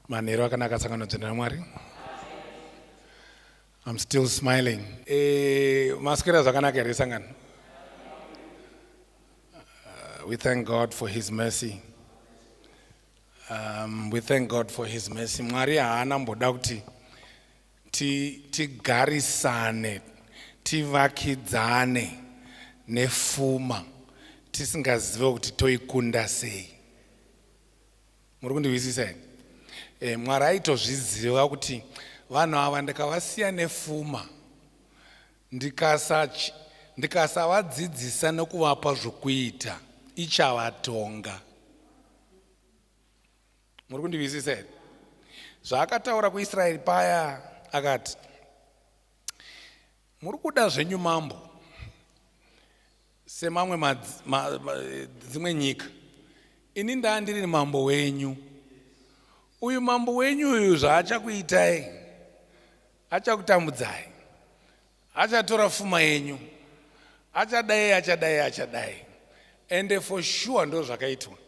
Manheru akanaka sangano dzina raMwari. I'm still smiling. Eh, maswera zvakanaka here sangano? Uh, we thank God for his mercy. Um, we thank God for his mercy. Mwari haana mboda kuti tigarisane tivakidzane nefuma tisingazive kuti toikunda sei muri kundihwisisa here e, mwari aitozviziva kuti vanhu ava ndikavasiya nefuma ndikasavadzidzisa ndikasa nokuvapa zvokuita ichavatonga muri kundihwisisa here zvaakataura kuisraeri paya akati Muri kuda zvenyu mambo semamwe ma, ma, ma, dzimwe nyika. Ini ndaa ndiri mambo wenyu. Uyu mambo wenyu uyu zvaachakuitai achakutambudzai. Achatora fuma yenyu. Achadai achadai achadai. Ende for sure ndozvakaitwa.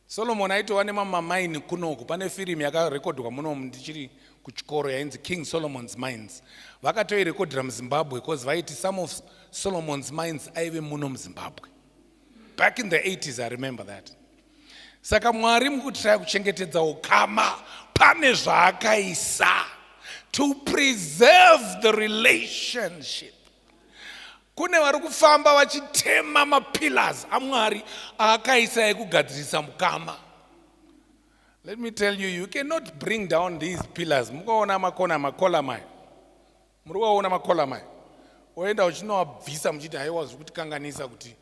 Solomon aitova nemamamaini kunoku. Pane firimu yakarekodhwa munomu ndichiri kuchikoro yainzi King Solomon's Mines. Vakatoirekodhera muZimbabwe because vaiti some of Solomon's Mines aive muno muZimbabwe. Back in the 80s, I remember that. Saka Mwari mukutishaya kuchengetedza ukama pane zvaakaisa to preserve the relationship. Kune vari kufamba vachitema mapillars aMwari aakaisa ekugadzirisa mukama. Let me tell you, you cannot bring down these pillars. Mukaona makona makola mai. Muri kuona makola mai. Oenda uchinowabvisa muchiti haiwa zviri kutikanganisa kuti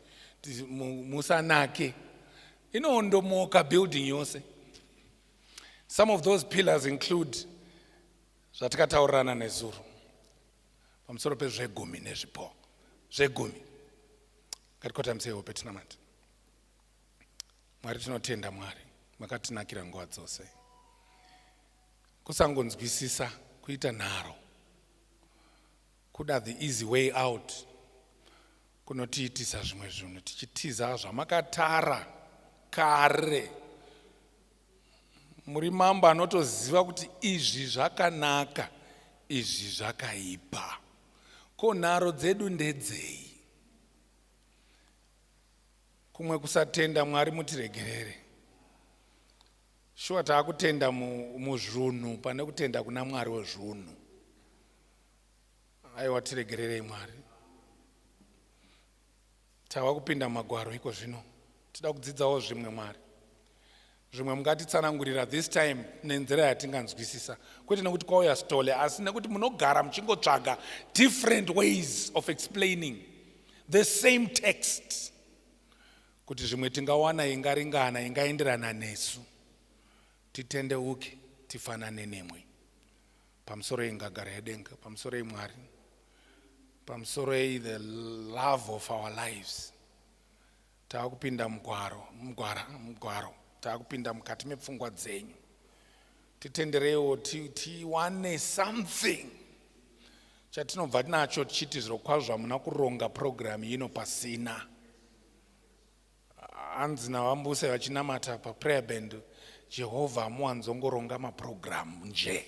musanake. Inondomoka building yose. Some of those pillars include zvatikataurirana nezuro. pamusoro pezvegumi nezvipo zvegumi ngatikotamise hope tinamati mwari tinotenda mwari makatinakira nguva dzose kusangonzwisisa kuita nharo kuda the easy way out kunotiitisa zvimwe zvinhu tichitiza zvamakatara kare muri mambo anotoziva kuti izvi zvakanaka izvi zvakaipa ko nharo dzedu ndedzei kumwe kusatenda mwari mutiregerere shuwa taakutenda muzvunhu pane kutenda kuna mwari wezvunhu aiwa tiregererei mwari Tava kupinda mumagwaro iko zvino. Tida kudzidzawo zvimwe Mwari. Zvimwe mungatitsanangurira this time nenzira yatinganzwisisa. Kwete nekuti kwauya stole asi nekuti munogara muchingotsvaga different ways of explaining the same text. Kuti zvimwe tingawana ingaringana ingaenderana nesu. Titendeuke tifanane nemwe. pamusoro yengagara yedenga pamusoro yemwari pamusoro yei the love of our lives tava kupinda mugwaro mugwara mugwaro tava kupinda mukati mepfungwa dzenyu titendereiwo tiwane ti something chatinobva nacho tichiti zvirokwazvo hamuna kuronga purogiramu ino pasina hanzi navambuse vachinamata paprayer band jehovha hamuwanzongoronga maprogramu nje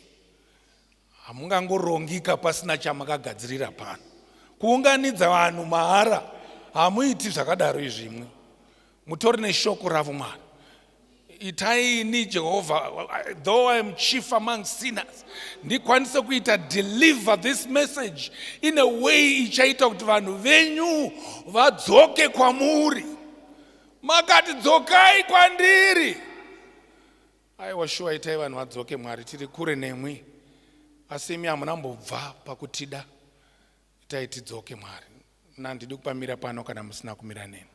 hamungangorongiika pasina chamakagadzirira pano kuunganidza vanhu mahara hamuiti zvakadaro izvimwe mutori neshoko ravo mwana itai ini jehovha though i am chief among sinners ndikwanise kuita deliver this message in a way ichaita kuti vanhu venyu vadzoke kwamuri makati dzokai kwandiri aiwa shuwa itai vanhu vadzoke mwari tiri kure nemwi asi imi hamuna mbobva pakutida itai tidzoke mwari mna handidi kupamira pano kana musina kumira neni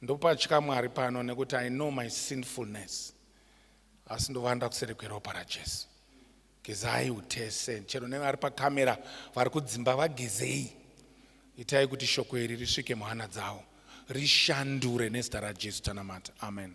ndopatya mwari pano nekuti i know my sinfulness asi ndovanda kuseri kweropa rajesu gezai utese chero nevari pakamera vari kudzimba vagezei itai kuti shoko iri risvike muhana dzavo rishandure nezita rajesu tanamata amen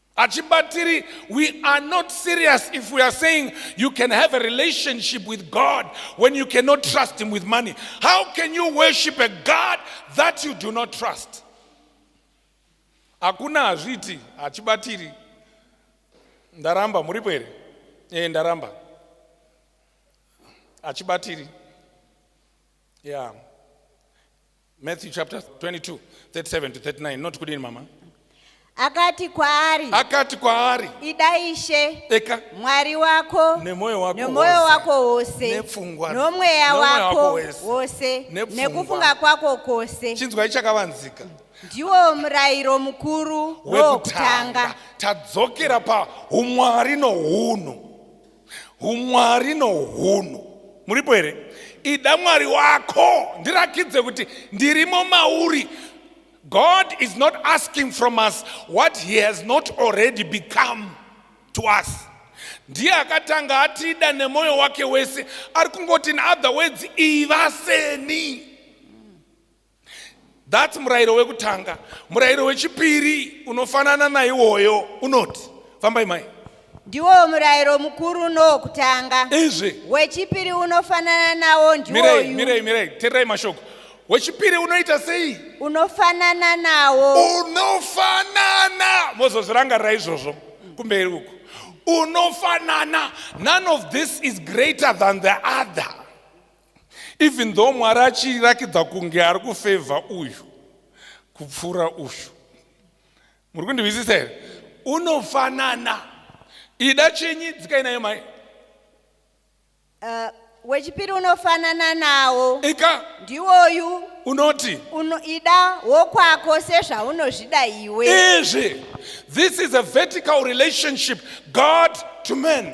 Achibatiri, we are not serious if we are saying you can have a relationship with God when you cannot trust Him with money. How can you worship a God that you do not trust? Hakuna hazviti hachibatiri. Ndaramba muripo here? Eh, ndaramba. Hachibatiri. Yeah. Matthew chapter 22, 37 to 39. Not kudini mama. akati kwaari Akati kwaari, ida ishe eka mwari wako Nemwoyo wako nemwoyo wose. wako wose Nepfungwa- nomweya nomweya wako wako wese. wose Nepfungwa. nekufunga kwako kwose chinzwai chakavanzika ndiwo murayiro mukuru wokutanga wekutanga. Tadzokera paumwari nohunhu. umwari nohunhu muripo here ida mwari wako ndirakidze kuti ndirimo mauri god is not asking from us what he has not already become to us ndiye akatanga atida nemwoyo wake wese ari kungoti in other words iva seni That's murayiro wekutanga. Murayiro wechipiri unofanana naiwoyo unoti, fambai mai. Ndiwo murayiro mukuru nowokutanga. Izvi. Wechipiri unofanana nawo ndiwoyu. Mirei, mirei, mirei, tererai mashoko. Wechipiri unoita sei? Unofanana nawo. Unofanana. Mozozvirangarira izvozvo kumberi uku. Unofanana. None of this is greater than the other. even though mwari achirakidza kunge ari kufevha uyu kupfuura uyu muri kundihwisisa here unofanana ida chenyi dzikai nayo mai Uh, wechipiri unofanana nawo ika ndiwoyu unoti uno, ida wokwako sezvaunozvida iwe izvi this is a vertical relationship god to man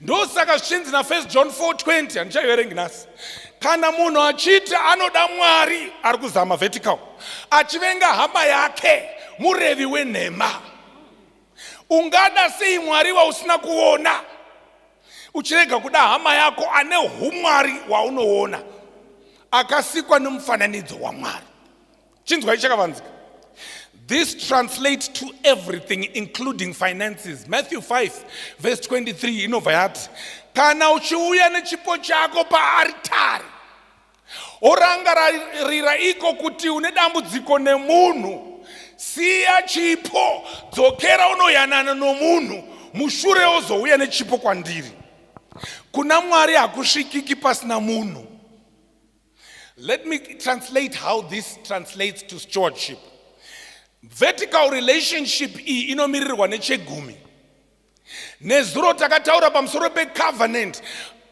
ndosaka zvichinzi nafirst john 420 handichaiverengi nhasi kana munhu achiti anoda mwari ari kuzama vertical achivenga hama yake murevi wenhema ungada sei mwari wausina kuona uchirega kuda hama yako ane umwari waunoona akasikwa nemufananidzo wamwari chinzwai chakavanzika This translates to everything including finances. Matthew 5 verse 23 inobva yati kana uchiuya nechipo chako paaritari orangarira iko kuti une dambudziko nemunhu siya chipo dzokera unoyanana nomunhu mushure ozouya nechipo kwandiri kuna mwari hakusvikiki pasina munhu Let me translate how this translates to stewardship. Vertical relationship iyi inomiririrwa nechegumi. Nezuro takataura pamusoro pecovenant.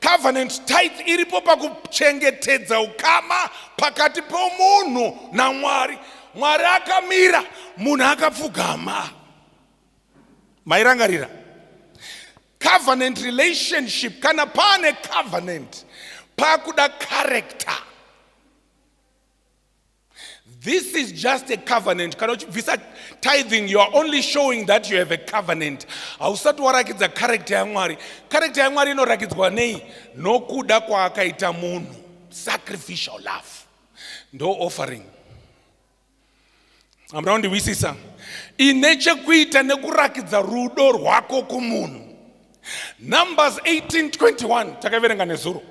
Covenant type iripo pakuchengetedza ukama pakati pomunhu naMwari. Mwari akamira, munhu akapfugama. Mairangarira? covenant relationship kana paane covenant pakuda character this is just a covenant kana uchibvisa tithing you are only showing that you have a covenant hausati warakidza character yamwari character yamwari inorakidzwa nei nokuda kwaakaita munhu sacrificial love ndo offering amura kundihwisisa ine chekuita nekurakidza rudo rwako kumunhu numbers 1821 takaverenga nezuro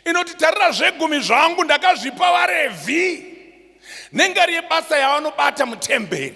inoti tarira zvegumi zvangu ndakazvipa varevhi nengari yebasa yavanobata mutemberi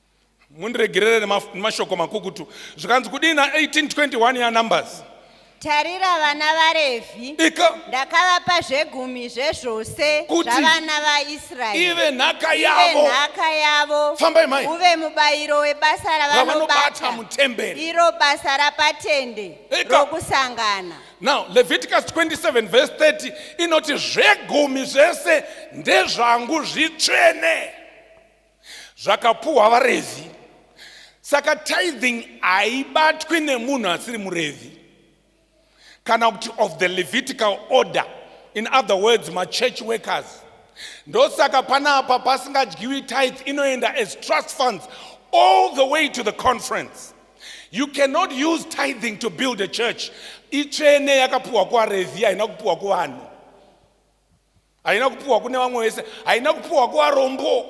mundiregerere nemashoko makukutu zvikanzi kudii na 1821 ya numbers tarira vana varevhi ndakavapa zvegumi zvezvose zvavana vaisraeri ive nhaka yavo nhaka yavo fambai mai uve mubayiro webasa ravanobata mutemberi iro basa rapatende rokusangana now leviticus 27 verse 30 inoti zvegumi zvese ndezvangu zvitsvene zvakapuhwa vaRevhi. Saka tithing haibatwi nemunhu asiri muRevhi kana kuti of the Levitical order, in other words machurch workers. Ndosaka panapa pasingadyiwi tithe inoenda as trust funds all the way to the conference. You cannot use tithing to build a church. Itsvene yakapuhwa kuvaRevhi haina kupuhwa kuvanhu. haina kupiwa kune vamwe vese haina kupiwa kuvarombo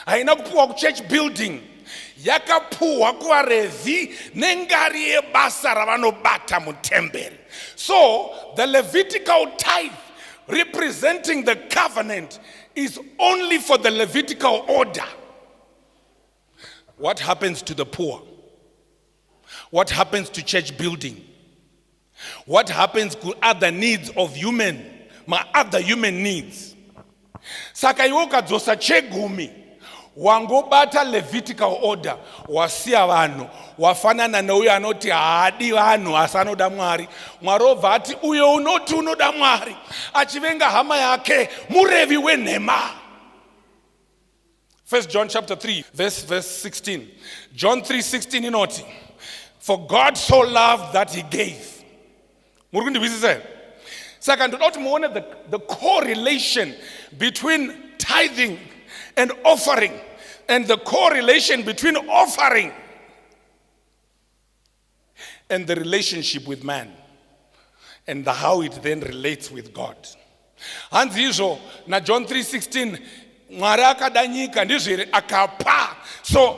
haina kupiwa kuchurch building yakapuhwa kuvarevhi nengari yebasa ravanobata mutemberi so the levitical tithe representing the covenant is only for the levitical order what happens to the poor What happens to church building? What happens to other needs of human, my other human needs? Saka iwe ukadzosa chegumi wangobata levitical order wasiya vanhu wafanana neuyo anoti haadi vanhu asi anoda mwari mwari obva ati uyo unoti unoda mwari achivenga hama yake murevi wenhema First John chapter 3 verse verse 16. John 3:16 inoti for God so loved that he gave. Muri kundihwisisa here? Saka ndoda kuti muone the, the correlation between tithing and offering and the correlation between offering and the relationship with man and the how it then relates with God. Hanzi izvo na John 3:16 Mwari akada nyika ndizvo here akapa. So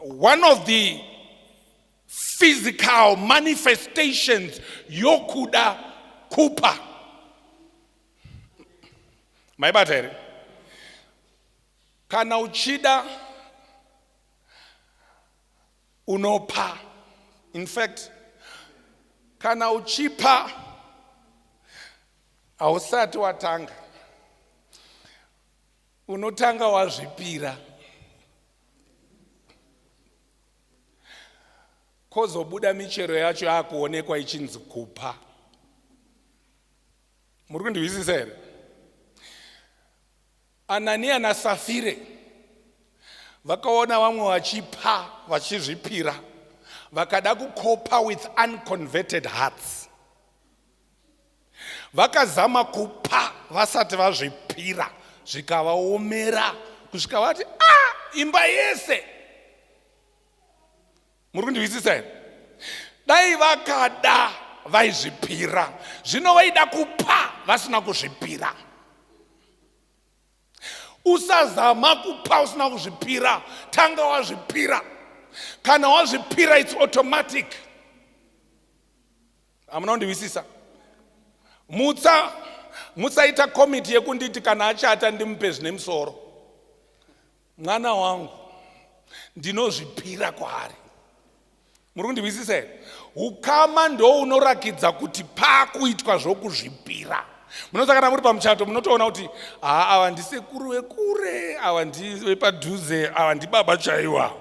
one of the physical manifestations yokuda kupa. Maibata here? Kana uchida unopa in fact kana uchipa hausati watanga unotanga wazvipira kozobuda michero yacho yakuonekwa ichinzi kupa muri kundihwisisa here Anania naSafire vakaona vamwe vachipa vachizvipira vakada kukopa with unconverted hearts vakazama kupa vasati vazvipira zvikavaomera kusvika vati a ah, imba yese muri kundihwisisa here dai vakada vaizvipira zvino vaida kupa vasina kuzvipira usazama kupa usina kuzvipira tanga wazvipira kana wazvipira its automatic hamuna kundihwisisa mutsa mutsaita komiti yekunditi kana achata ndimupe zvine musoro mwana wangu ndinozvipira kwaari muri kundihwisisa here ukama ndounorakidza kuti pakuitwa zvokuzvipira munoza kana muri pamuchato munotoona kuti haa ava ndisekuru vekure ava ndivepadhuze ava ndibaba chaiwa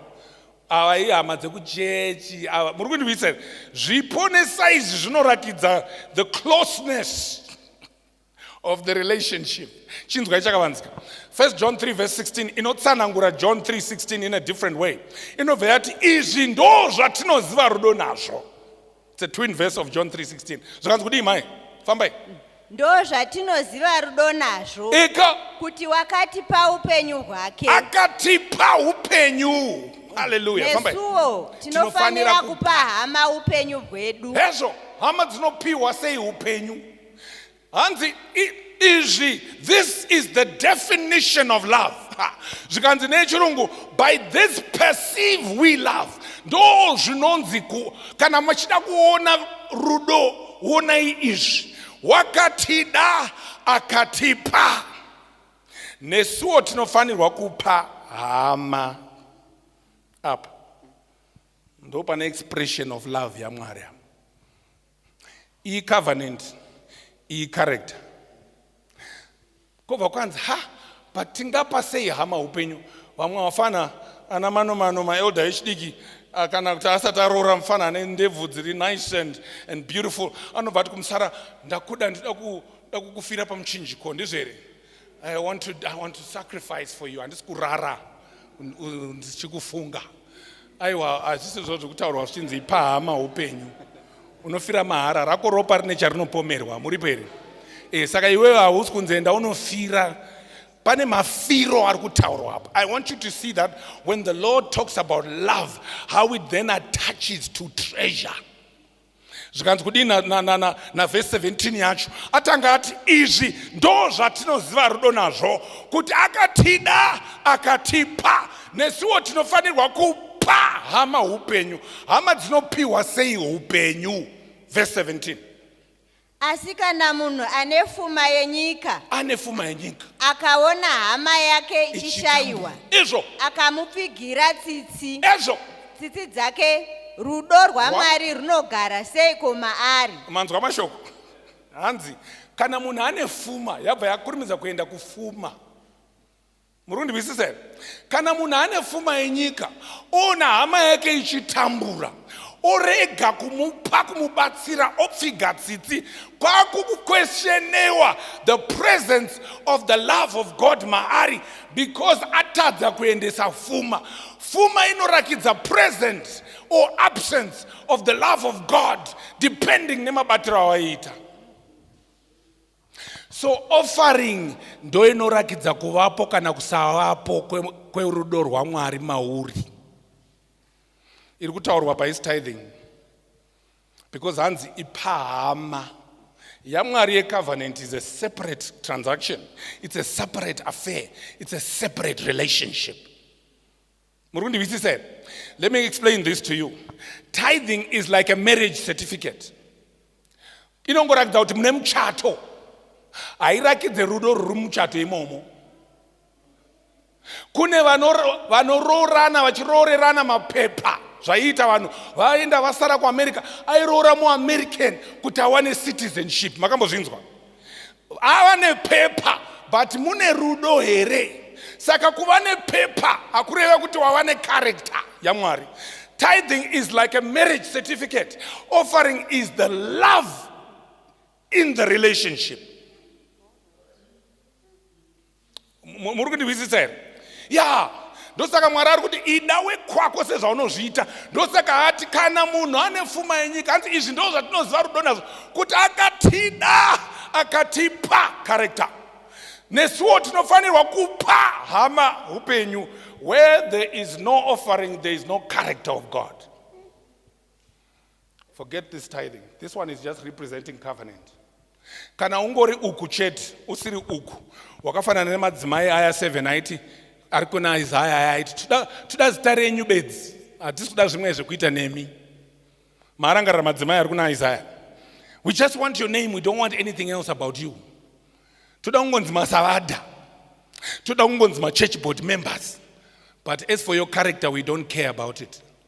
ava ihama dzekuchechi ava muri kundihwisisa here zvipo nesaizi zvinorakidza the closeness of the relationship chinzwai chakavanzika 1 john 3 verse 16 inotsanangura john 3 16 in a different way inobva yati izvi ndo zvatinoziva rudo nazvo it's a twin verse of john 3 16 zvakanzi kudii mai fambai ndo zvatinoziva rudo nazvo ika kuti wakatipa upenyu hwake akatipa upenyu haleluya fambai nesuwo tinofanira kupa hama upenyu hwedu hezvo hama dzinopiwa sei upenyu hanzi izvi this is the definition of love zvikanzi nechirungu by this perceive we love ndo zvinonzi kana machida kuona rudo wonai izvi wakatida akatipa nesuwo tinofanirwa kupa hama apa ndo pane expression of love yamwari apa iyi covenant iyi character kobva kwanzi ha but tingapa sei hama upenyu vamwe vafana ana manomano maelda echidiki ah, kana kuti asati aroora mufana ane ndebvu dziri nice and, and beautiful anobva ati kumusara ndakuda ndida kukufira pamuchinjiko ndizvo here I want, to, i want to sacrifice for you handisi kurara ndichikufunga aiwa hazvisi zvo zvekutaurwa zvichinzi ipahama upenyu unofira mahara rako ropa rine charinopomerwa muripo here e, saka iwewe hausi kunzi enda unofira pane mafiro ari kutaurwa apo i want you to see that when the lord talks about love how it then attaches to treasure zvikanzi kudii navhesi 17 yacho atanga ati izvi ndo zvatinoziva rudo nazvo kuti akatida akatipa nesuwo tinofanirwa kupa hama upenyu hama dzinopiwa sei upenyu vhesi 17 Asi kana munhu ane fuma yenyika ane fuma yenyika akaona hama yake ichishaiwa, izvo akamupfigira tsitsi, ezvo tsitsi dzake, rudo rwaMwari runogara seiko maari? manzwa mashoko hanzi kana munhu ane fuma yabva yakurumidza kuenda kufuma muri kundinzwisisa here kana munhu ane fuma yenyika oona hama yake ichitambura orega kumupa kumubatsira opfiga tsitsi kwakukukweshenewa the presence of the love of god maari because atadza kuendesa fuma fuma inorakidza presence or absence of the love of god depending nemabatiro awaiita So offering ndo inorakidza kuvapo kana kusavapo kwerudo kwe rwaMwari mauri. Iri kutaurwa paisi tithing because hanzi ipahama yamwari yecovenant is a separate transaction it's a separate affair it's a separate relationship muri kundivisisa here let me explain this to you tithing is like a marriage certificate inongoratidza kuti mune muchato hairakidze rudo ruri muchato imomo kune vanoroorana vachiroorerana mapepa zvaiita vanhu vaenda vasara kuamerica airoora muamerican kuti awane citizenship makambozvinzwa ava nepepa but mune rudo here saka kuva nepepa hakureva kuti wava necharacter yamwari tithing is like a marriage certificate offering is the love in the relationship muri kundihwisisa here ya ndosaka mwari ari kuti ida wekwako sezvaunozviita ndosaka ati kana munhu ane fuma yenyika anzi izvi ndo zvatinoziva rudo nazvo kuti akatida akatipa karekta nesuwo tinofanirwa kupa hama upenyu where there is no offering there is no character of god Forget this tithing. This one is just representing covenant. Kana ungori uku chete, usiri uku. Wakafanana nemadzimai aya 7 aiti ari kuna Isaya aya aiti tuda tuda zita renyu bedzi. Hatisi kuda zvimwe zvekuita nemi. Maarangarira madzimai ari kuna Isaya. We just want your name, we don't want anything else about you. Tuda kungonzi masavada. Tuda kungonzi ma church board members. But as for your character, we don't care about it.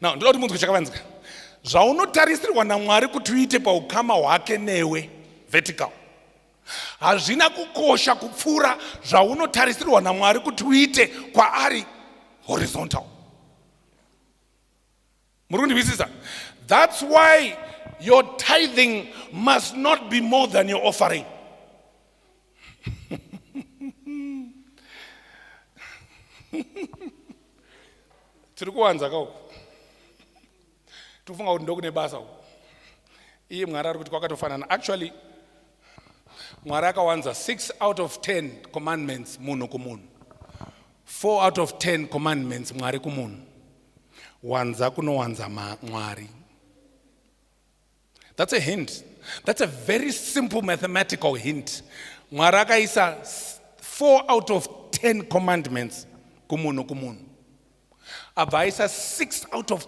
now ndoda kuti munzwe chakavanzika zvaunotarisirwa namwari kuti uite paukama hwake newe vertical hazvina kukosha kupfuura zvaunotarisirwa namwari kuti uite kwaari horizontal muri kundihwisisa that's why your tithing must not be more than your offering tiri kuwanza ka uku tikufunga kuti ndokune basa uku iye mwari ari kuti kwakatofanana actually mwari akawanza 6 out of 10 commandments munhu kumunhu 4 out of 10 commandments mwari kumunhu wanza kunowanza mwari That's a hint. That's a very simple mathematical hint. Mwari akaisa 4 out of 10 commandments kumunhu kumunhu. Abva aisa 6 out of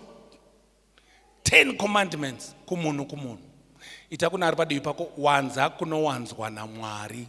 10 commandments kumunhu kumunhu. Ita kuna ari padivi pako wanza kunowanzwa naMwari.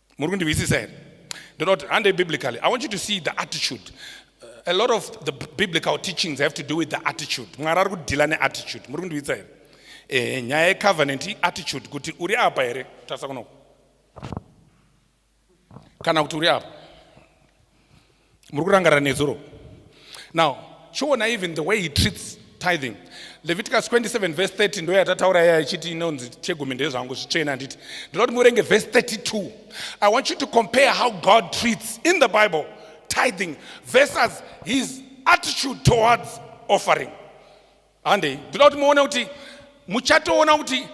muri kundinzwisisa here ndinoda kuti handei biblically i want you to see the attitude uh, a lot of the biblical teachings have to do with the attitude mwari ari kudhila neattitude muri kundinzwisisa here eh, nyaya yecovenant iattitude kuti uri apa here tarisa kunoko kana kuti uri apa muri kurangarira nezuro now chiona even the way he treats tithing leviticus 27 verse 30 ndo yatataura iya ichiti inonzi chegumi ndezvangu zvitsvene handiti ndinoda kuti muverenge verse 32 i want you to compare how god treats in the bible tithing versus his attitude towards offering handei ndinoda kuti muone kuti muchatoona kuti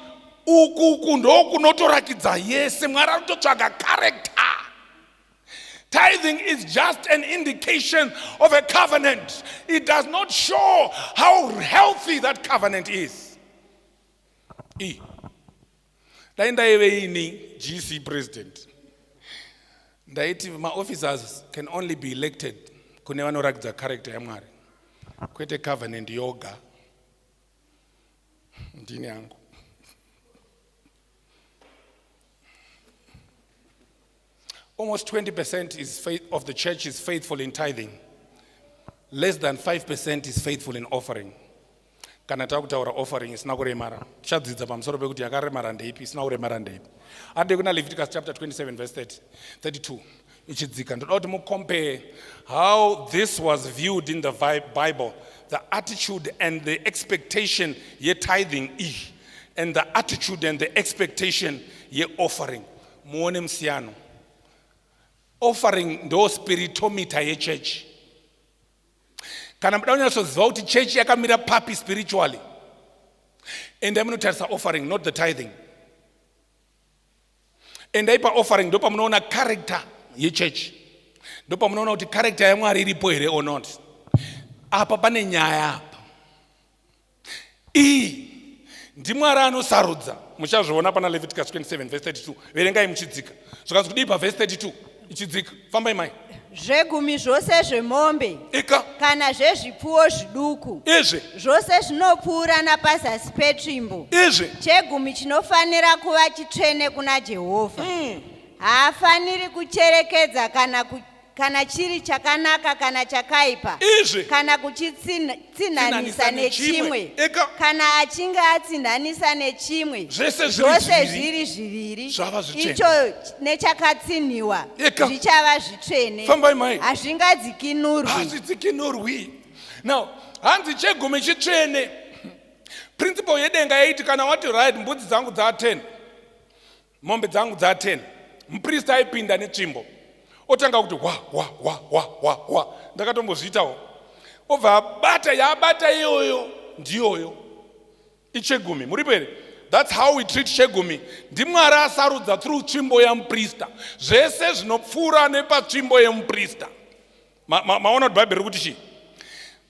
uku uku ndokunotorakidza yese mwari anototsvaga character Tithing is just an indication of a covenant. It does not show how healthy that covenant is. E. Dai ndaive ini GC president. Ndaiti my officers can only be elected kune vanorakidza character yaMwari. Kwete covenant yoga. Ndini yangu. Almost 20% is faith of the church is faithful in tithing. Less than 5% is faithful in offering. kana takutaura offering isina kuremara tichadzidza pamusoro pekuti yakaremara ndeipi isina kuremara ndeipi ade kuna leviticus chapter 27 verse 30, 32 ichidzika ndoda kuti mucompare how this was viewed in the bible the attitude and the expectation yetithing iyi and the attitude and the expectation yeoffering muone musiyano offering ndo spiritometer yechurch kana muda kunyatsoziva kuti chechi yakamira papi spiritually endai munotarisa offering not the tithing endai paoffering ndo pamunoona character yechechi ndo pamunoona kuti character yamwari iripo here or not apa pane nyaya apa iyi ndimwari anosarudza muchazviona pana leviticus 27 vese 32 verengai muchidzika zvikanzi kudii pavese 32 ichidzika fambai mai zvegumi zvose zvemombe ika kana zvezvipfuwo zviduku izvi zvose zvinopfuura napazasi petsvimbo izvi chegumi chinofanira kuva chitsvene kuna jehovha mm. haafaniri kucherekedza kana ku kana chiri chakanaka kana chakaipa izvi kana kuchitsinhanisa nechimwe kana achinge atsinhanisa nechimwe zvose zviri zviviri icho nechakatsinhiwa zvichava zvitsvene hazvingadzikinurwi now hanzi chegumi chitsvene principle yedenga yaiti kana wati right mbudzi dzangu dza 10 mombe dzangu dza 10 mupristi aipinda netsvimbo otanga kuti hwa hwa hwa hwa hwa hwa ndakatombozviitawo obva abata yaabata iyoyo ndiyoyo ichegumi muripo here thats how we treat chegumi ndimwari asarudza through tsvimbo yamuprista zvese zvinopfuura nepatsvimbo yemuprista maona ma, ma kuti bhaibheri rikuti chii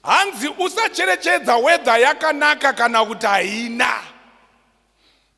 hanzi usacherechedza wedha yakanaka kana kuti haina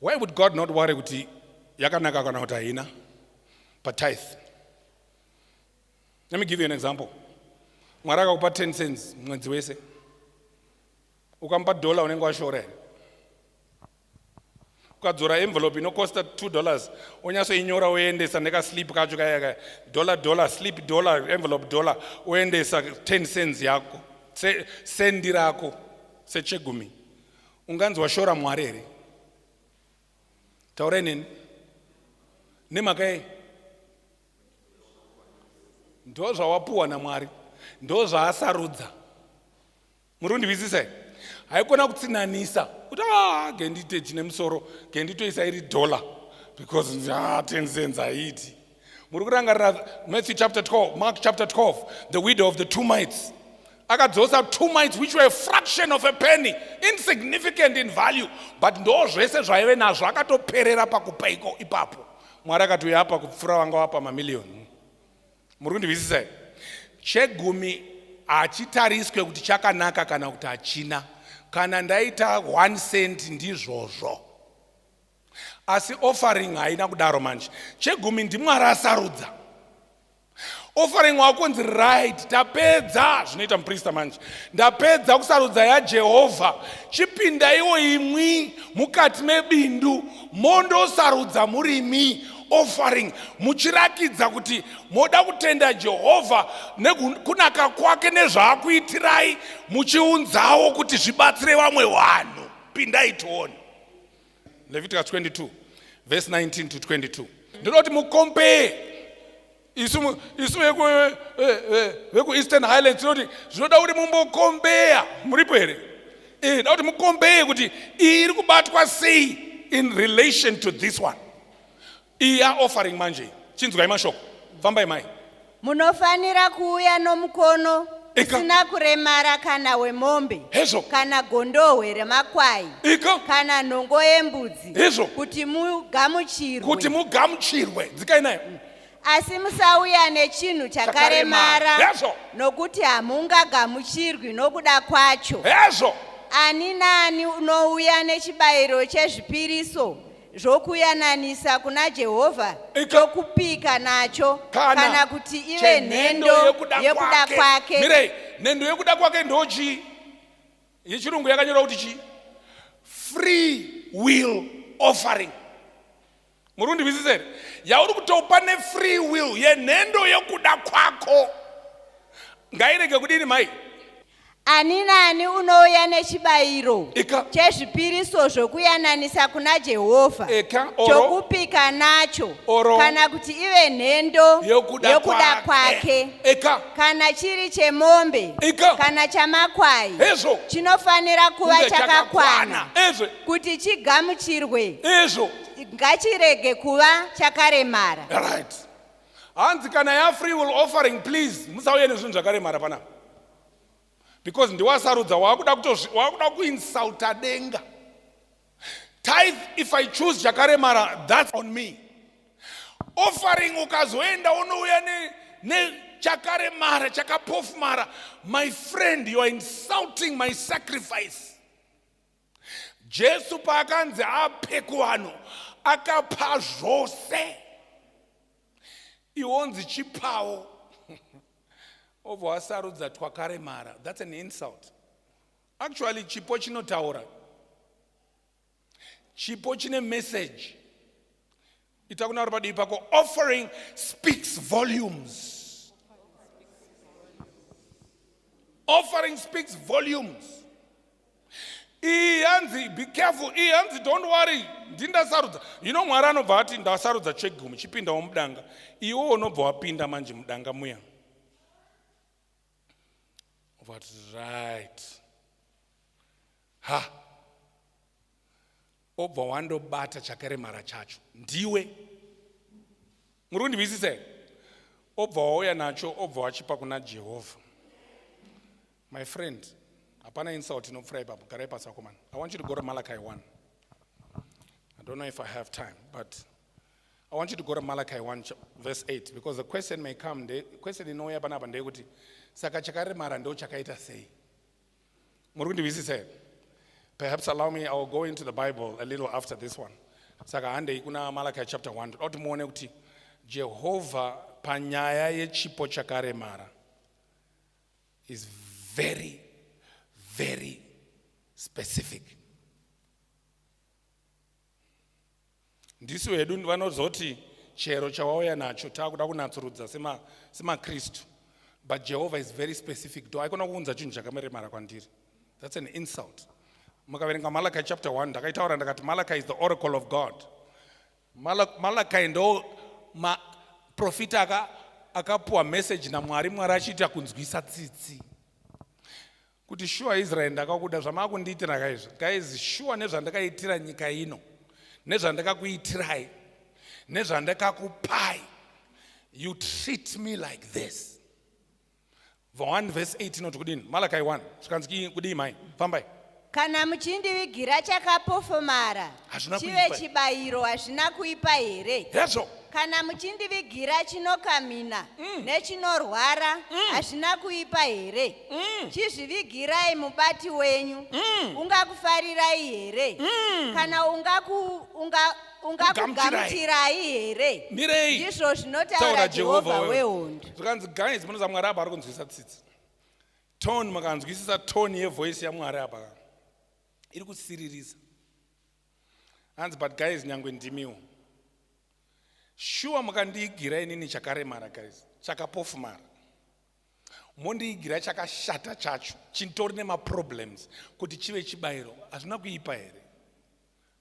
why would god not worry kuti yakanaka kana kuti haina patithe let me give you an example mwari akakupa 10 cents mwedzi wese ukamupa dollar unenge washora here ukadzora envelope inokosta two dollars onyatsoinyora oendesa nekaslip kacho kayaka dollar dollar slip dollar envelope dollar oendesa ten cents yako sendi rako sechegumi unganzi washora mwari here taurai neni nemhaka yei ndo zvawapuwa namwari ndo zvaasarudza muri kundihwisisa here haikona kutsinanisa kuti a ah, gendite chine musoro genditoisa iri dollar because ah, ten cents haiti muri kurangarira matthew chapter 12 mark chapter 12 the widow of the two mites akadzosa two mites which were a fraction of a penny insignificant in value but ndo zvese zvaive nazvo akatoperera pakupa iko ipapo mwari akati uya apa kupfura vanga wapa mamiliyoni muri kundihwisisa chegumi hachitariswe kuti chakanaka kana kuti hachina kana ndaita one cent ndizvozvo asi offering haina kudaro manje chegumi ndimwari asarudza offering wakunzi right tapedza zvinoita muprista manje ndapedza kusarudza yajehovha chipindaiwo imwi mukati mebindu mondosarudza murimi offering muchirakidza kuti moda kutenda jehovha nekunaka kwake nezvaakuitirai muchiunzawo kuti zvibatsire vamwe vanhu pindai tione Leviticus 22 verse 19 to 22 ndinoda kuti mukompee isu isu vekueastern eh, eh, highlands tinoti zvinoda kuti mumbokombeya muripo here eh, da kuti mukombeye kuti iyi iri kubatwa sei in relation to this one Iya offering manje chinzwai mashoko fambai mai munofanira kuuya nomukono Ika. usina kuremara kana wemombe Hezvo. kana gondohwe remakwai iko kana nhongo yembudzi Hezvo. kuti mugamuchirwe kuti mugamuchirwe dzikai nayo asi musauya nechinhu Chakaremara. chakaremara Hezvo. nokuti hamungagamuchirwi nokuda kwacho hezvo ani naani unouya nechibayiro chezvipiriso zvokuyananisa kuna Jehovha Ika- chokupika nacho Kana kana kuti ive chenhendo nhendo yekuda yekuda kwake. kwake Mirei, nhendo yekuda kwake ndochii yechirungu yakanyorwa kuti chii free will offering muri kundinzwisisa here yauri kuti pane free will yenhendo yekuda kwako ngairege kudini mai Ani naani unouya nechibayiro Ika. chezvipiriso zvokuyananisa kuna Jehovha Eka, oro. chokupika nacho Oro. kana kuti ive nhendo yokuda yokuda kwake eka kana chiri chemombe Ika. kana chamakwai Hezvo. chinofanira kuva kunge chakakwana ezvo kuti chigamuchirwe ezvo ngachirege kuva chakaremara right hanzi kana yafree will offering please musauye nezvinhu zvakaremara pana because ndiwasarudza wakuda kutowakuda kuinsulta denga tithe if i choose chakaremara that's on me offering ukazoenda unouya nechakaremara chakapofumara my friend you are insulting my sacrifice Jesu paakanzi ape kuvanhu akapa zvose, iwonzi chipawo obva wasarudza twakaremara. That's an insult. Actually chipo chinotaura, chipo chine message. ita kuna vari padivi pako offering speaks volumes offering speaks volumes iyi hanzi be careful iyi hanzi don't worry ndindasarudza yino mwari anobva ati ndasarudza chegumi chipindawo mudanga iwo unobva wapinda manje mudanga muya vati right ha obva wandobata chakaremara chacho ndiwe muri kundinzwisisa here obva wauya nacho obva wachipa kuna jehovha my friend hapana insult inopfura ipapo garai pasi vakomana i want you to go to malachi 1 i don't know if i have time but i want you to go to malachi 1 verse 8 because the question may come the question inouya panapa ndeyekuti saka chakaremara ndo chakaita sei muri kundihwisisa here perhaps allow me iwill go into the bible a little after this one saka handei kuna malachi chapter 1 toda kuti muone kuti jehovha panyaya yechipo chakaremara is very very specific ndisu hedu vanozoti chero chawauya nacho takuda kunatsurudza semakristu but jehovha is very specific do aikona kuunza chinhu chakameremara kwandiri that's an insult mukaverenga malachi chapter 1 ndakaitaura ndakati malachi is the oracle of god malachi ndo maprofita aka akapuwa message namwari mwari achiita kunzwisa tsitsi kuti shuwa israeri ndakakuda zvamaakundiitira kaizvo guys shuwa nezvandakaitira nyika ino nezvandakakuitirai nezvandakakupai you treat me like this va 1 vese 8 inoti kudini malakai 1 zvikanzi kudii mai fambai kana muchindivigira chakapofomara hazvina chive kuipa chibayiro hazvina kuipa here hezvo kana muchindivigira chinokamina nechinorwara hazvina kuipa here chizvivigirai mubati wenyu ungakufarirai here kana ungaku- unga- ungakugamuchirai here mirei ndizvo zvinotaura taura jehovha jehovha wehondo zvikanzi guys munoza mwari apa ari kunzwisisa tsitsi tone makanzwisisa tone yevoice yamwari apa iri kusiririsa hanzi but guys nyangwe ndimiwo shuwa mukandiigira inini chakaremara guys chakapofumara mondiigira chakashata chacho chitori nemaproblems kuti chive chibayiro hazvina kuipa here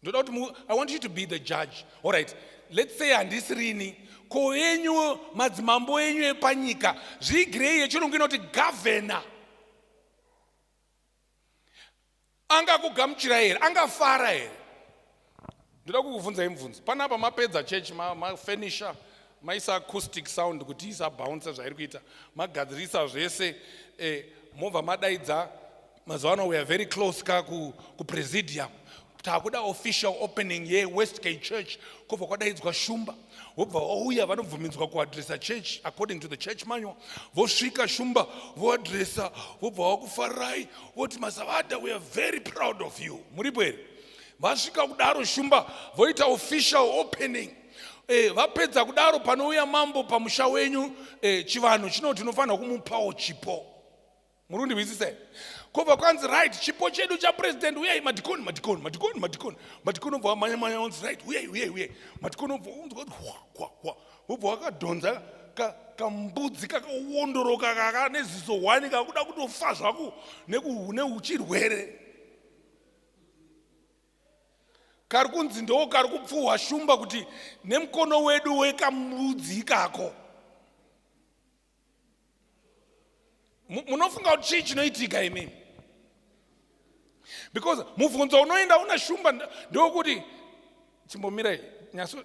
ndoda kuti i want you to be the judge all right let's say handisi rini ko enyu madzimambo enyu epanyika zviigirei yechirungu inoti governor angakugamuchira here angafara here ndoda kukubvunzai mubvunzo panapa mapedza church mafurnisher ma maisa acoustic sound kuti isabounce zvairi kuita magadzirisa zvese eh, mobva madaidza mazuva ano weare very close ka kupresidium ku takuda official opening yewestgate church kobva kwadaidzwa shumba wobva wauya vanobvumidzwa kuadresa church according to the church manual vosvika shumba voadresa vobva wakufarirai voti masavada weare very proud of you muripo here vasvika kudaro shumba voita official opening eh, vapedza kudaro panouya mambo pamusha wenyu eh, chivanhu chinoti unofanira kumupawo chipo muri kundihwisisa here kobva kwanzi right chipo chedu chapresident uyai madikoni madikoni madikoni madikoni madikoni obva wamanya manya onzi right uyai uyai uyai madikoni obva unzwa kuti hwahwahwa wobva wakadhonza kambudzi kakawondoroka kaka neziso hwani kakuda kutofa zvako neuchirwere kari kunzi ndoo kari kupfuhwa shumba kuti nemukono wedu wekamudzi ikako munofunga kuti chii chinoitika imimi because mubvunzo unoenda una shumba ndewokuti chimbomirai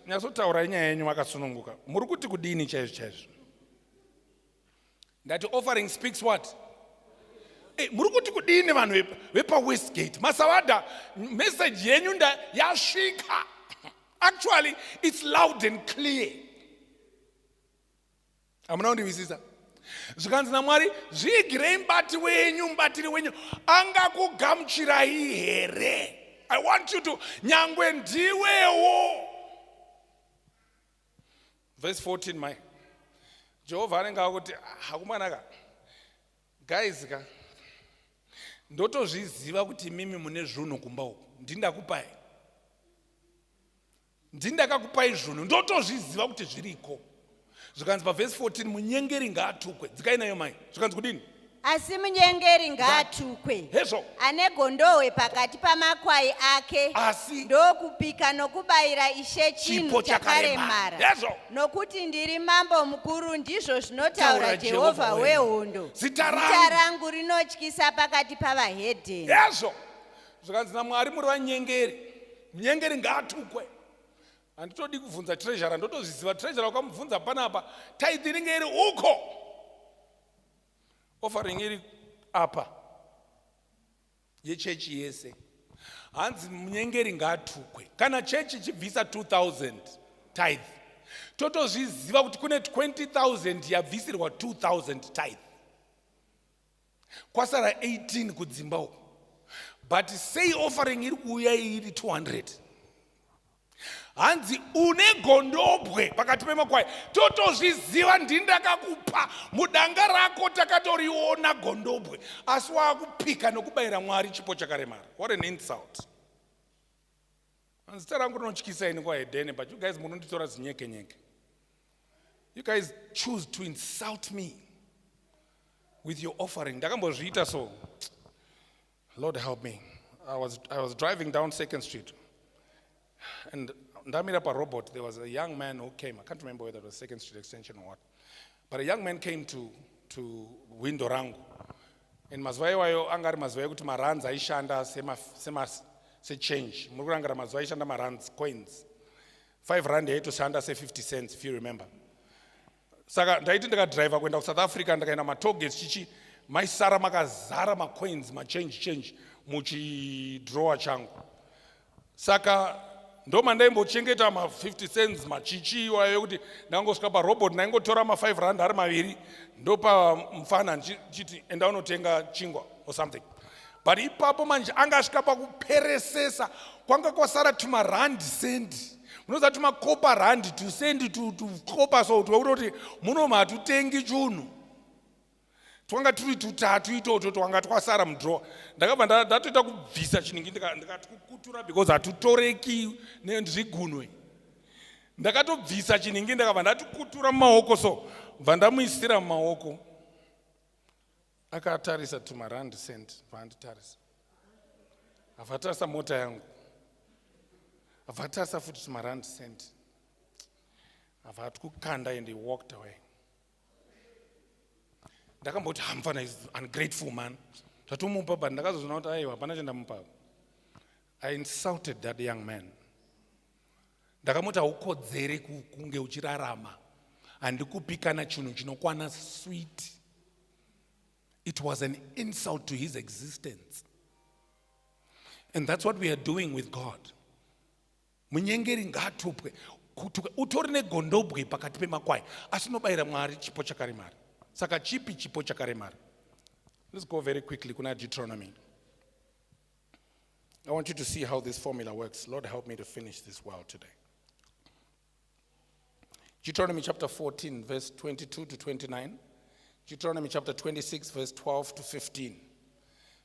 nyasotaurai nyaya yenyu makasununguka muri kuti kudini chaizvo chaizvo ndati offering speaks what Hey, eh, muri kuti kudini vanhu vepawestgate masavada message yenyu nda yasvika actually it's loud and clear hamuna kundivisisa zvikanzi namwari zviigirei mubati wenyu mubatiri wenyu angakugamuchirai here i want you to nyangwe ndiwewo verse 14 mai jehovha anenge akuti hakumwanaka guys ka ndotozviziva kuti mimi mune zvunhu kumba uku ndindakupai ndini ndakakupai zvunhu ndotozviziva kuti zviriko zvikanzi pavhesi 14 munyengeri ngaatukwe dzikai nayo mai zvikanzi kudini asi munyengeri ngaatukwe hezvo ane gondohwe pakati pamakwai ake asi ndokupika nokubayira ishe chinhu chakaremara hezvo nokuti ndiri mambo mukuru ndizvo zvinotaura jehovha wehondo zita rangu rinotyisa pakati pavahedheni hezvo zvikanzi namwari muri vanyengeri munyengeri ngaatukwe handitodi kubvunza treasure ndotozviziva treasure wakamubvunza panapa taidhi inenge iri uko offering iri apa yechechi yese hanzi munyengeri ngaatukwe kana chechi ichibvisa 2000 tithe totozviziva kuti kune 20000 yabvisirwa 2000 tithe kwasara 18 kudzimba uko but sei offering iri kuuya iri 200 hanzi une gondobwe pakati pemakwai totozviziva ndindakakupa mudanga rako takatoriona gondobwe asi waakupika nokubayira mwari chipo chakaremara what an insult Zita rangu rinotyisa ini kwaHedene but you guys munonditora zinyeke nyeke. You guys choose to insult me with your offering. Ndakambozviita so. Lord help me. I was, I was driving down Second Street and ndamira parobot there was a young man who came. I can't remember whether it was Second Street Extension or what. but a young man came to, to window rangu and mazuva iwayo anga ari mazuva ekuti maruns aishanda sechange muri kurangara mazuva aishanda maruns coins 5 rand yaitoshanda se50 cents if you remember saka ndaiti ndikadriver kuenda kusouth africa ndikaenda matoges chichi maisara makazara macoins machange change muchidrower changu saka ndo mandaimbochengeta ma 50 cents machichi iwayo ekuti ndangosvika parobot ndaingotora ma 5 rand ari maviri ndopa mfana ndichiti enda unotenga chingwa or something but ipapo manje anga asvika pakuperesesa kwanga kwasara tuma rand cent munoziva tuma copa rand to cent to, to copa so kuti wekutoti muno matutengi chunhu twanga turi tutatu itoto twanga twasara mudrowa ndakabva ndatoita kubvisa chinhingi ndikati kukutura because hatutoreki nezvigunwe ndakatobvisa chinhingi ndakabva ndatikutura mumaoko so bva ndamuisira mumaoko akatarisa tumarand cent vaanditarisa avatarisa mota yangu avatarisa futi tumarand cent avatwukanda and he walked away ndakamboti hamfana is ungrateful man zvatomupa but ndakazozvina kuti aiwa hapana chandamupa i insulted that young man ndakamuti haukodzere kunge uchirarama handikupi kana chinhu chinokwana sweet it was an insult to his existence and that's what we are doing with god munyengeri ngaatupwe utori negondobwe pakati pemakwai asi unobayira mwari chipo chakaremara saka chipi chipo chakaremara let's go very quickly kuna deuteronomy i want you to see how this formula works lord help me to finish this well today deuteronomy chapter 14 verse 22 to 29 deuteronomy chapter 26 verse 12 to 15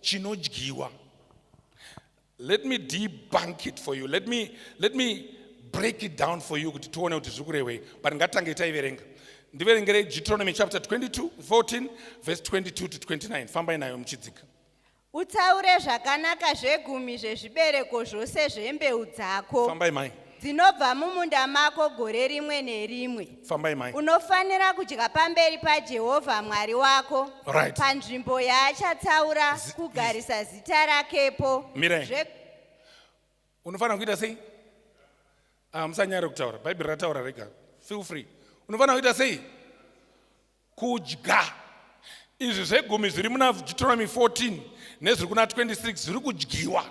chinodyiwa let me debunk it for you let me, let me break it down for you kuti tione kuti zviri kurehwei but ngatange taiverenga ndiverengere deuteronomy chapter 22 14 verse 22 to 29 fambai nayo muchidzika utaure zvakanaka zvegumi zvezvibereko zvose zvembeu dzako fambai mai dzinobva mumunda mako gore rimwe nerimwe fambai mai unofanira kudya pamberi pajehovha mwari wako Right. panzvimbo yaachatsaura Zi- kugarisa zita rakepo Mirai. Zve- unofanira kuita sei Ah, musanyare kutaura bhaibheri rataura rega feel free unofanira kuita sei kudya izvi zvegumi zviri muna deuteronomy 14 nezviri kuna 26 zviri kudyiwa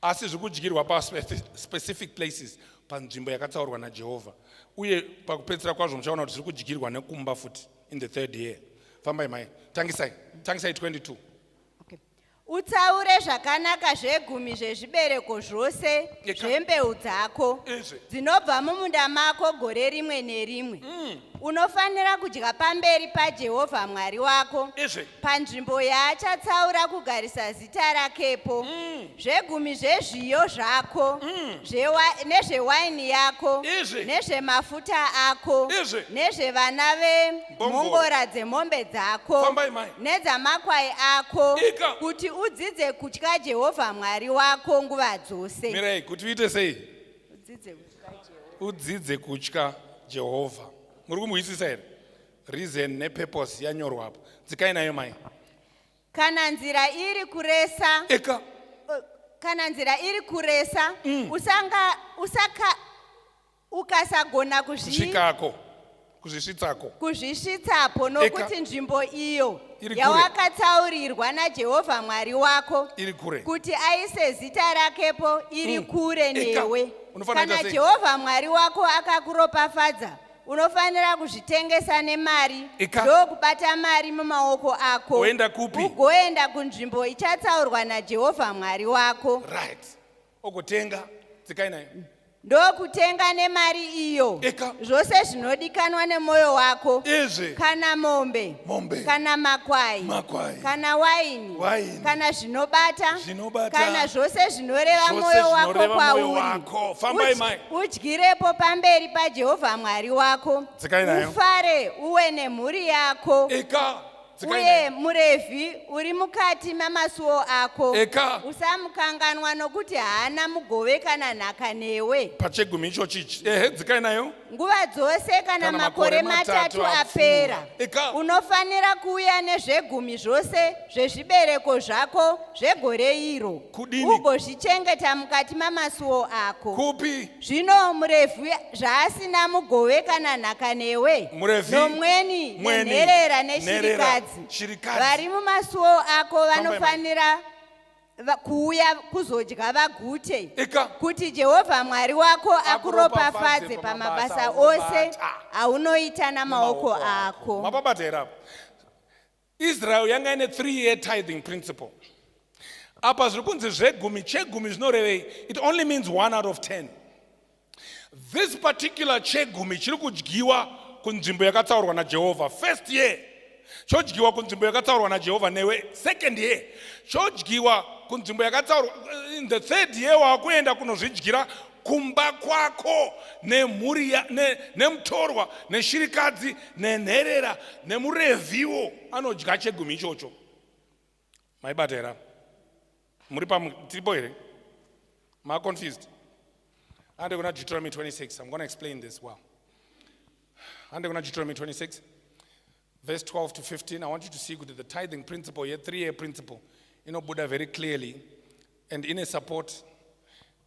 asi zviri kudyirwa paspecific places panzvimbo yakatsaurwa najehovha uye pakupedzisira kwazvo muchaona kuti zviri kudyirwa nekumba futi in the third year fambai mai tangisai tangisai 22 utaure zvakanaka zvegumi zvezvibereko zvose zvembeu dzako dzinobva mumunda mako gore rimwe nerimwe mm. unofanira kudya pamberi pajehovha mwari wako Izvi. panzvimbo yaachatsaura kugarisa zita rakepo mm. zvegumi zvezviyo zvako mm. nezvewaini yako nezvemafuta ako nezvevana vemhongora dzemombe dzako nedzamakwai ako kuti udzidze kutya jehovha mwari wako nguva dzose mirai kuti uite sei udzidze kutya jehovha muri kumuhwisisa here reason nepurpose yanyorwa apo dzikai nayo mai kana nzira iri kuresa eka kana nzira iri kuresa mm. usanga usaka ukasagona kuzvikako kuzvisvitsako kuzvisvitsapo nokuti nzvimbo iyo yawakatsaurirwa najehovha mwari wako iri kure kuti aise zita rakepo iri mm. kure newe kana jehovha mwari wako akakuropafadza unofanira kuzvitengesa nemari Ika. ndokubata mari mumaoko ako Woenda kupi? ugoenda kunzvimbo ichatsaurwa najehovha mwari wako right ogotenga dzikai nayo ndokutenga nemari iyo Ika. zvose zvinodikanwa nemwoyo wako izvi kana mombe Mombe. kana makwai Makwai. kana waini waini kana zvinobata Zvinobata. kana zvose zvinoreva Zvose mwoyo wako zvinoreva mwoyo kwauri wako. Fambai, Udyi- mai. udyirepo pamberi pajehovha mwari wako Dzikai nayo. ufare uwe nemhuri yako eka dzikai uye nayo. murevhi uri mukati mamasuwo ako Eka. usamukanganwa nokuti haana mugove kana nhaka newe pachegumi ichochi ichi ehe dzikai nayo nguva dzose kana, kana makore matatu apera unofanira kuuya nezvegumi zvose zvezvibereko zvako zvegore iro ugozvichengeta mukati mamasuwo ako kupi zvino murevhi zvaasina mugove kana nhaka newe nomweni nenherera neshirikadzi vari mumasuwo ako vanofanira kuuya kuzodya vagute kuti jehovha mwari wako akuropafadze pamabasa ose aunoita namaoko ako mapabata here apo israel yanga ine three year tithing principle apa zviri kunzi zvegumi chegumi zvinorevei it only means one out of ten This particular chegumi chiri kudyiwa kunzvimbo yakatsaurwa naJehovha. First year chodyiwa kunzvimbo yakatsaurwa naJehovha newe. Second year chodyiwa kunzvimbo yakatsaurwa. In the third year wakuenda kunozvidyira kumba kwako nemhuri ne, nemutorwa neshirikadzi nenherera nemurevhiwo anodya chegumi ichocho. maibata here muri pamu tiripo here maconfused ande kuna deuteronomy 26 i'm going to explain this well ande kuna deuteronomy 26 verse 12 to 15 i want you to see kuti the tithing principle ye three year principle inobuda very clearly and ine support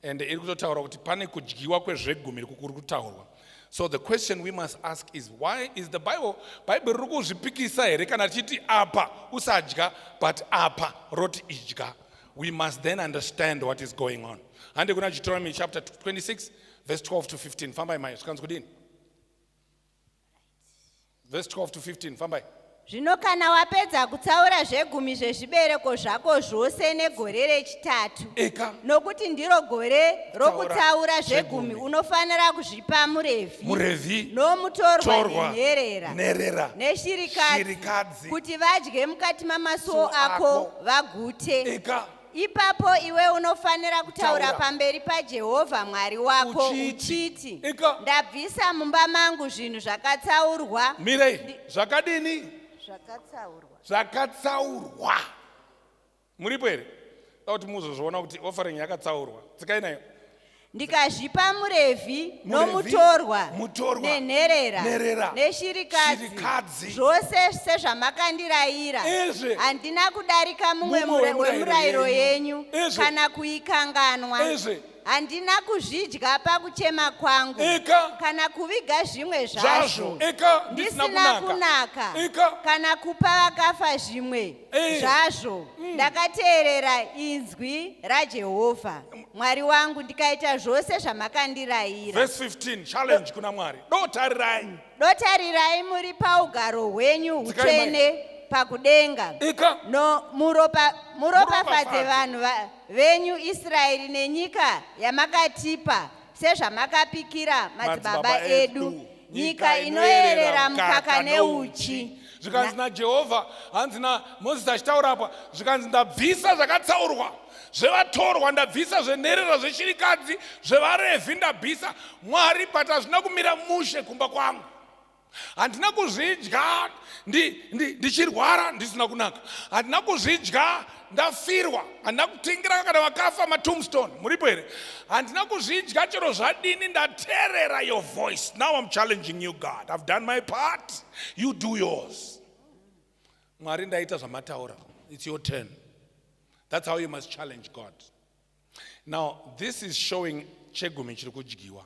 and iri kutotaura kuti pane kudyiwa kwezvegumi riku kuri kutaurwa so the question we must ask is why is the bible bhaibheri riri kuzvipikisa here kana richiti apa usadya but apa roti idya we must then understand what is going on hande kuna deuteronomy chapter 26 verse 12 to 15 fambai mai zvikanzi kudini Verse 12 to 15, fambai. Zvino kana wapedza kutsaura zvegumi zvezvibereko zvako zvose negore rechitatu, Eka, nokuti ndiro gore rokutsaura zvegumi, zvegumi. unofanira zvipa murevhi muRevhi, nomutorwa torwa, nenherera nherera, neshirikadzi shirikadzi, kuti vadye mukati mamasuo Suo ako ako. vagute eka, ipapo iwe unofanira kutaura pamberi pajehovha mwari wako uchiti ndabvisa mumba mangu zvinhu zvakatsaurwa mirei zvakadini zvakatsaurwa zvakatsaurwa muripo here da kuti muzozviona kuti offering yakatsaurwa tsikai nayo ndikazvipa murevhi nomutorwa nenherera neshirikadzi zvose sezvamakandirayira handina kudarika mumwe wemurayiro yenyu kana kuikanganwa handina kuzvidya pakuchema kwangu ika kana kuviga zvimwe zvazvo ika ndisina kunaka ika kana kupa vakafa zvimwe Eh. zvazvo mm. ndakateerera inzwi rajehovha mwari wangu ndikaita zvose zvamakandirayira verse 15 challenge kuna mwari dotarirai mm. dotarirai muri paugaro hwenyu utsvene pakudenga ika no muropa muropafadze vanhu venyu israeri nenyika yamakatipa sezvamakapikira madzibaba edu nyika inoyerera mukaka neuchi zvikanzi najehovha hanzi namozisi achitaura apa zvikanzi ndabvisa zvakatsaurwa zvevatorwa ndabvisa zvenherera zveshirikadzi zvevarevhi ndabvisa mwari but hazvina kumira mushe kumba kwangu handina kuzvidya ndichirwara ndi, ndi ndisina kunaka handina kuzvidya ndafirwa handina kutingira kana vakafa matombstone muripo here handina kuzvidya chero zvadini ndaterera your voice now im challenging you god ive done my part you do yours mwari ndaita zvamataura its your turn that's how you must challenge god now this is showing chegumi chiri kudyiwa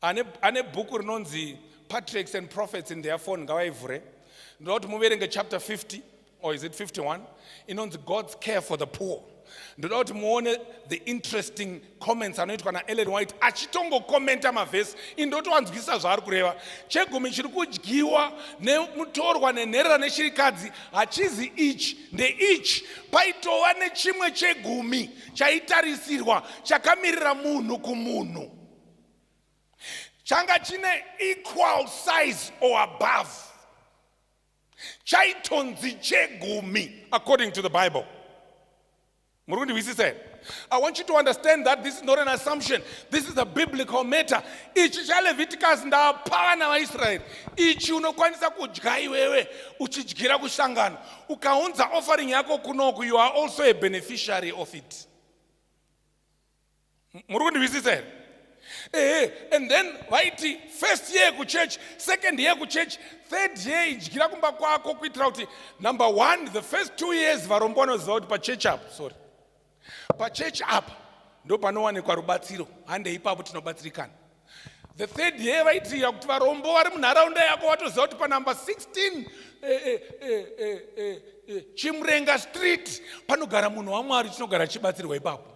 ane, ane bhuku rinonzi patriarchs and prophets in their phone ngavaivhure ndoda kuti muverenge chapter 50 or is it 51 inonzi god's care for the poor ndoda kuti muone the interesting comments anoitwa naellen white achitongokomenta mavhesi indotowanzwisisa zvaari kureva chegumi chiri kudyiwa nemutorwa nenherera neshirikadzi hachizi ichi ndeichi paitova nechimwe chegumi chaitarisirwa chakamirira munhu kumunhu changa chine equal size or above chaitonzi chegumi according to the bible muri kundihwisisa here i want you to understand that this is not an assumption this is a biblical matter ichi chaleviticus ndapana vaisraeri ichi unokwanisa kudya iwewe uchidyira kushangano ukaunza offering yako kunoku you are also a beneficiary of it muri kundihwisisa here ehe and then vaiti first year kuchurch second year kuchurch third year idyira kumba kwako kuitira kuti number one the first two years varombo vanoziva kuti pachechi apo sorry pachechi apa ndopanowanikwa rubatsiro handei ipapo tinobatsirikana the third year vaitiira kuti varombo vari munharaunda yako watoziva kuti panumber 16 eh, eh, eh, chimrenga street panogara munhu wamwari tinogara chibatsirwa ipapo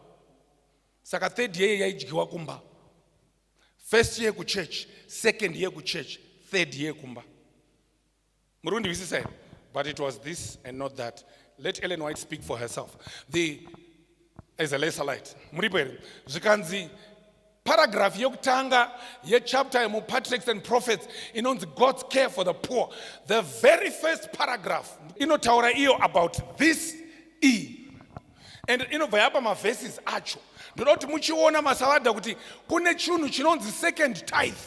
saka third year yaidyiwa kumba first year kuchurch second year kuchurch third year kumba muri kundihwisisa here but it was this and not that let ellen white speak for herself the as a lesser light muripo here zvikanzi paragraph yokutanga yechapter yemupatriarchs and prophets inonzi god's care for the poor the very first paragraph inotaura iyo about this e and inobva yapa maverses acho ndoda kuti muchiona masavadha kuti kune chinhu chinonzi second tithe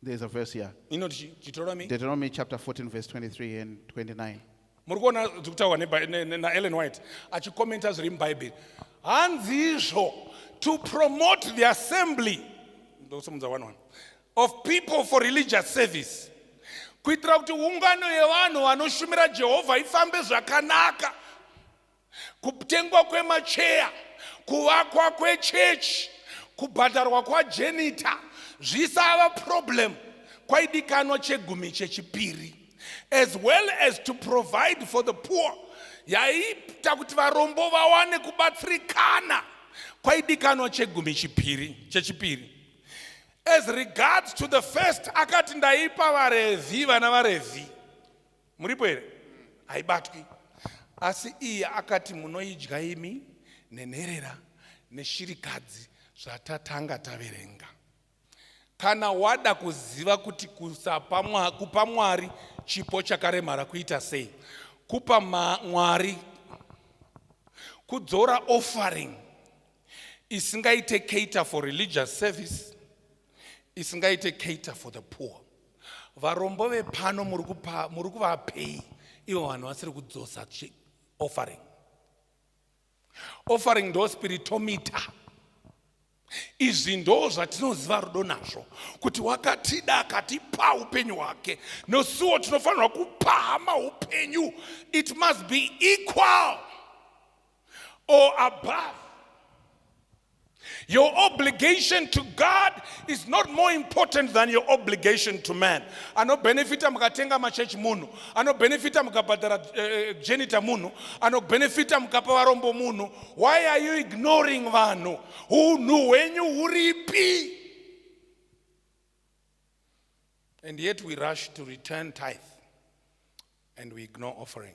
There is a verse here. inoti chi- deuteronomy Deuteronomy chapter 14, verse 23 and 29. muri kuona zviri kutaurwa ne Bi- ne- ne- naellen white achikomenta zviri mubhaibheri hanzizvo to promote the assembly ndosimudza one one of people for religious service kuitira kuti ungano yevanhu vanoshumira jehovha ifambe zvakanaka kutengwa kwemacheya kuvakwa kwechechi kubhadharwa kwajenita zvisava problem kwaidikanwa chegumi chechipiri as well as to provide for the poor yaiita kuti varombo vawane kubatsirikana kwaidikanwa chegumi chipiri chechipiri as regards to the first akati ndaipa varevhi vana varevhi muripo here haibatwi asi iye akati munoidya imi nenherera neshirikadzi zvatatanga taverenga kana wada kuziva kuti kupa mwari chipo chakaremara kuita sei kupa mwari kudzora offering isingaite cater for religious service isingaite cater for the poor varombo vepano muri kuvapei ivo vanhu vasiri kudzosa offering offering ndo spiritomita izvi ndo zvatinoziva rudo nazvo kuti wakatida akatipa upenyu hwake nosuwo tinofanirwa kupa hama upenyu it must be equal or above. Your obligation to God is not more important than your obligation to man. Anobenefita mukatenga machurch munhu, anobenefita mukabhadhara uh, eh, genita eh, munhu, anobenefita mukapa varombo munhu. Why are you ignoring vanhu? Unhu hwenyu huripi? And yet we rush to return tithe and we ignore offering.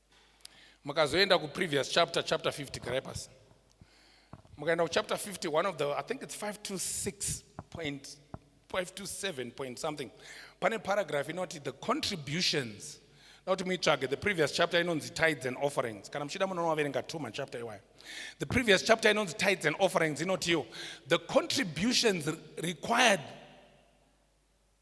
mukazoenda kuprevious chapter chapter 50 garai pasi mukaenda kuchapter 50 one of the i think it's 5 to 6 point 5 to 7 point something pane paragraph inoti the contributions nokuti muitsvage the previous chapter inonzi tides and offerings kana muchida munonovaverenga two machapter iwayo the previous chapter inonzi tides and offerings inotiyo the contributions required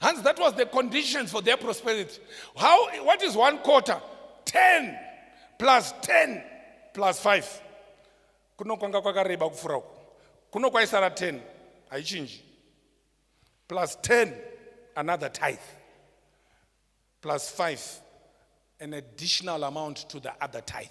Hans, that was the conditions for their prosperity. How, what is one quarter? 10 plus 10 plus 5. Kuno kwanga kwakareba kufura uku. Kuno kwaisara 10. Haichinji. Plus 10 another tithe. Plus 5 an additional amount to the other tithe.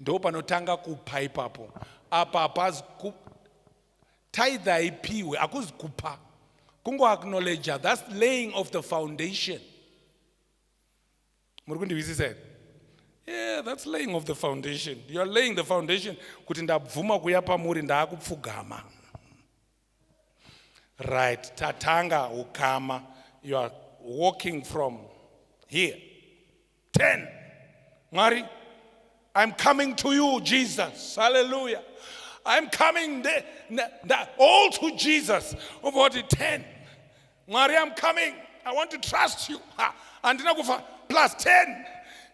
ndo panotanga kupa ipapo apa hapazi tithe haipiwe hakuzi kupa kungoacknowledger thats laying of the foundation muri kundihwisisa here yeah that's laying of the foundation you are laying the foundation kuti ndabvuma kuya pamuri ndaakupfugama right tatanga ukama you are walking from here 10 mwari i'm coming to you jesus hallelujah i'm coming there, all to jesus obva kuti 10 Mwari I'm coming. I want to trust you. Ha, andina kufa plus 10.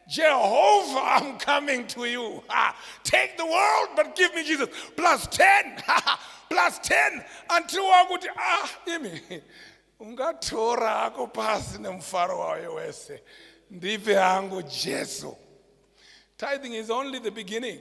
Jehovah, I'm coming to you. Ha, take the world but give me Jesus. Plus 10. Ha, plus 10 until wakuti ah imi ungatora hako pasi nemufaro wayo wese ndipe hangu Jesu. Tithing is only the beginning.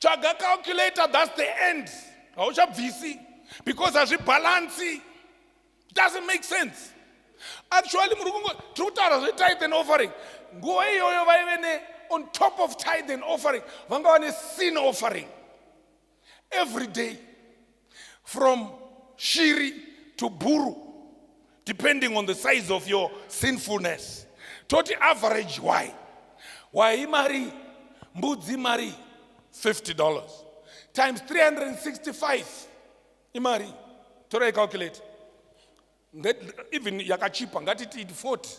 tsvaga calculator thats the end hauchabvisi because hazvibhalansi doesn't make sense actually muri kungo tiri kutaura zvetithe and offering nguva iyoyo vaive ne on top of tithe and offering vanga vane sin offering every day From shiri to bhuru depending on the size of your sinfulness. Toti average why? Why mari mbudzi mari $50 times 365 imari torai calculate even yakachipa ngatiti 40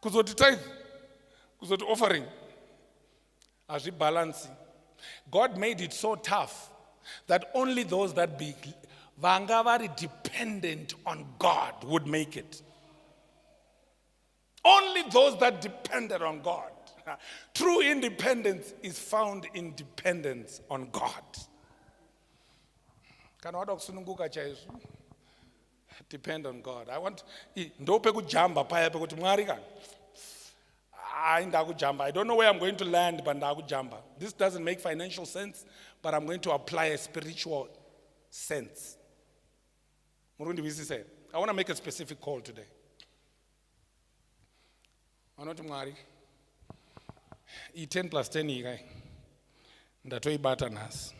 kuzoti tithe kuzoti offering hazvibhalansi god made it so tough that only those that be vanga vari dependent on god would make it only those that depended on god true independence is found in dependence on god kana wada kusununguka chaizvo depend on god i want ndo pekujamba paya pekuti mwari ka hayi ndakujamba i don't know where i'm going to land but ndakujamba this doesn't make financial sense but i'm going to apply a spiritual sense muri kundiwisisa here i want to make a specific call today vanoti mwari i 10 plus 10 iyi kai ndatoibata nhasi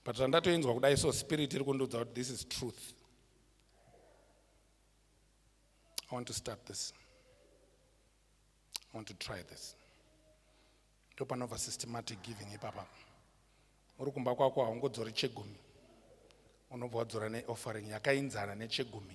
but zvandatoinzwa kudai so spirit iri kundiudza kuti this is truth i want to start this i want to try this ndopanobva systematic giving ipapa uri kumba kwako haungodzori chegumi unobva wadzora neoffering yakainzana nechegumi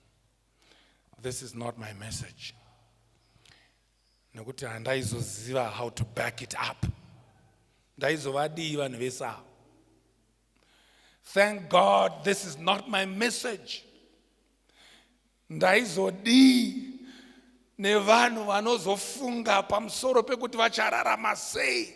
this is not my message nekuti handaizoziva how to back it up ndaizovadii vanhu vese avo thank god this is not my message ndaizodii nevanhu vanozofunga pamusoro pekuti vachararama sei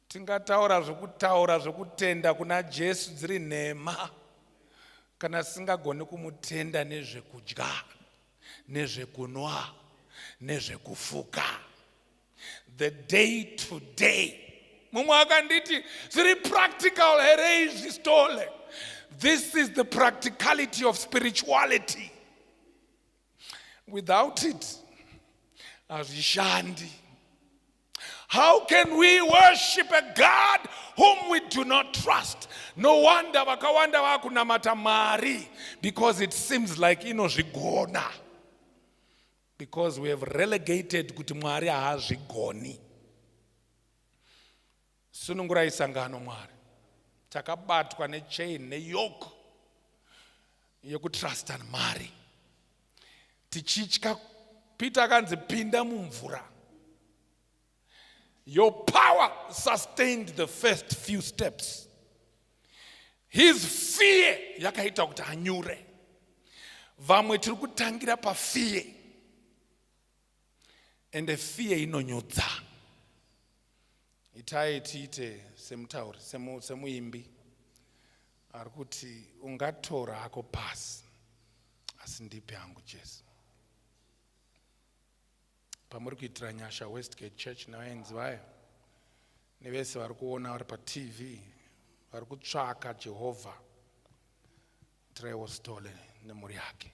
Tingataura zvokutaura zvokutenda kuna Jesu dziri nhema kana singagoni kumutenda nezvekudya nezvekunwa nezvekufuka the day to day mumwe akanditi zviri practical here izvi stole this is the practicality of spirituality without it hazvishandi How can we worship a God whom we do not trust? No wonder vakawanda vakunamata mari because it seems like inozvigona. Because we have relegated kuti Mwari haazvigoni. Sunungurai sangano Mwari. Takabatwa ne chain ne yoke yekutrustan mari. Tichitya Peter akanzi pinda mumvura. Your power sustained the first few steps. His fear yakaita kuti anyure. Vamwe tiri kutangira pafear. ende fear inonyudza itai tiite semutauri semuimbi ari kuti ungatora hako pasi asi ndipi hangu jesu pamuri kuitira nyasha westgate church nevaenzi vayo nevese vari kuona vari patv vari kutsvaka jehovha tiraiwo stole nemhuri yake